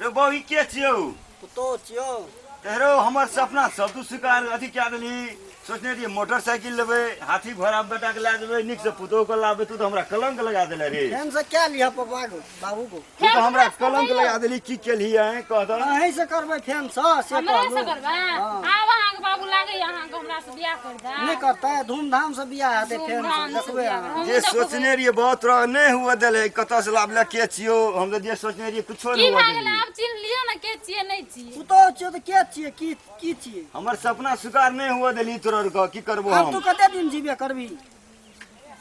रे बौ ई के छियौ पुतो छियौ तेरो हमर सपना सब तू स्वीकार अथी कए देली सोचने रहिए मोटरसाइकिल लेबै हाथी घोड़ा बेटा के लए जेबै नीक से पुतोह के लाबे तू तो हमरा कलंक लगा देले रे हम से क्या लिया पापा को बाबू को तू तो हमरा कलंक लगा देली की केली है कह दो अहीं से करबै फेन से से हमरा से करबै आब अहाँके बाबू लागैए अहाँके हमरा बियाह कर दा नहीं करता है धूमधाम से बियाह है देखे हम देखबे हम जे सोचने रहिए बहुत रह नहीं हुआ दिले कत से लाभ ले के छियो हम तो जे सोचने रहिए कुछो की नहीं हुआ भए गेलै दिले आब चिन्ह लिअ ने के छियै नहि छियै तू तो छियो तो क्या छिए की की छिए हमर सपना स्वीकार नहीं हुआ दिली तोर का की करबो अब हम तू कते दिन जीबे करबी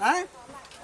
हैं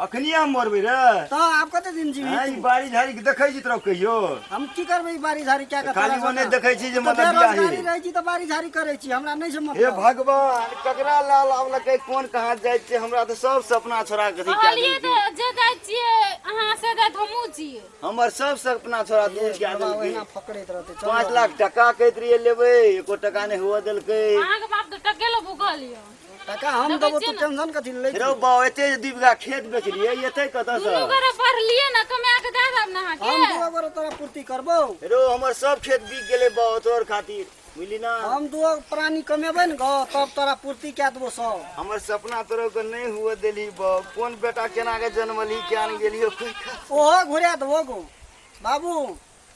अखनी हम मरबे रे तो आप कते दिन जीवी हैं, ई बारी झाड़ी के देखै छी तरफ कहियो हम की करबे ई बारी झाड़ी क्या करता खाली ओने देखै छी जे मतलब बियाह गाड़ी हे रहै छी त बारी झाड़ी करै छी हमरा नै से हे मतलब भगवान ककरा लाल आवला के कोन कहाँ जाइ छै हमरा तऽ सब सपना छोड़ा के अथी कए कहलियै देलकै। तऽ जे जाइ छियै अहाँ से जाइत हमहूँ छियै हमर सब सपना छोड़ा दूर कए बाबा देलकै ओहिना फकड़ैत रहतै चल पाँच लाख टका कहैत रहिए लेबै एको टका नहि हुअ देलकै अहाँके बाप तऽ टके लऽ भूखल यऽ काका हम देबो तू टेंशन कथी ले रे बा एते जे दू बीघा खेत बेचलिए एते कतऽ से दुनू गोरा पढ़लिए ना कमा के दे देब ना अहाँके हम दू गोरा तोरा पूर्ति करबो रो हमर सब खेत बिक गेले बा तोर खातिर बुझली ना हम दू प्राणी कमेबै ने गो तब तोरा पूर्ति कए देबो सब हमर सपना तोरो के नहीं हुए देली बा कोन बेटा केना के जन्मली केन गेली ओहो घुरा देबो गो बाबू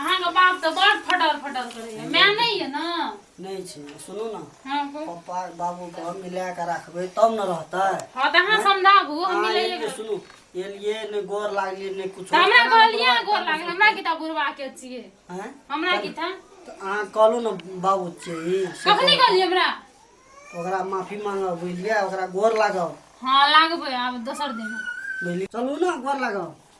अहाँके बाप तऽ बड़ फटर फटर करैए माय नहि यऽ ने नहि छै सुनू ने हँ कहू। पप्पा बाबू के हम मिला के रखबै तब ने रहतै हँ तऽ अहाँ समझाबू हम अहाँ मिलै एलियै, लेबै। सुनू एलियै ने गोर लागलियै ने कुछ तऽ हमरा कहलियै अहाँ गोर लागल हमरा की तऽ बुढ़वा के छियै हैं? हमरा की था तऽ अहाँ कहलू ने बाबू छियै ई, से कखनी कहलियै हमरा कहू। ओकरा माफी मांगब बुझलियै ओकरा गोर लागब हँ लागबै आब दोसर दिन बुझलियै चलू ने गोर लागब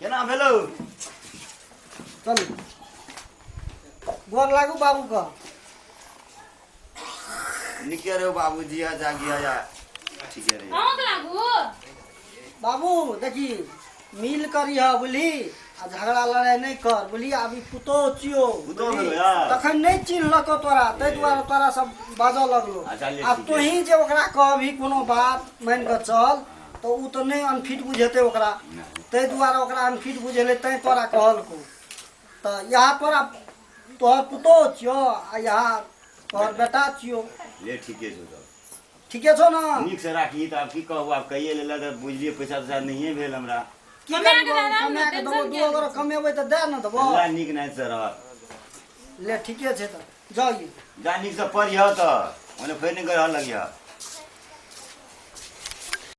केना भेलौ चलू गोर लागू बाबू के निके रहो बाबू जिया जा गिया जा ठीके रहे अहूँ के लागू बाबू देखी मिल करी है बुझली आ झगड़ा लड़ाई नहीं कर बुझली अभी पुतो चियो पुतोह बुझली? भेलो यार। तखन नहीं चिन्हलको तोरा ताहि दुआरे तोरा सब बाजऽ लगलो अच्छा, ले, आ ठीक तोही जे ओकरा कहबी कोनो बात मानि कऽ चल तऽ ओ तऽ नहि अनफिट बुझेतै ओकरा ताहि दुआरे ओकरा अनफिट बुझेलै तैँ तोरा कहलकौ तऽ इएह तोरा तोहर पुतोह छियौ आ इएह तोहर बेटा छियौ ले ठीके छौ तऽ ठीके छौ ने नीकसँ राखी तऽ आब की कहू आब कहिए लेलक तऽ बुझलियै पैसा तैसा नहिए भेल हमरा की कमाए कऽ करबौ दए दए ने, कमाए कऽ देबौ टेंशन दू किया अगर कमेबै तऽ दए ने देबौ अल्लाह नीक नाहितसँ रह ले ठीके छै तऽ जाउ यौ। जा नीकसँ पढ़िह तऽ ओने फेर नहि गढ़ लगिह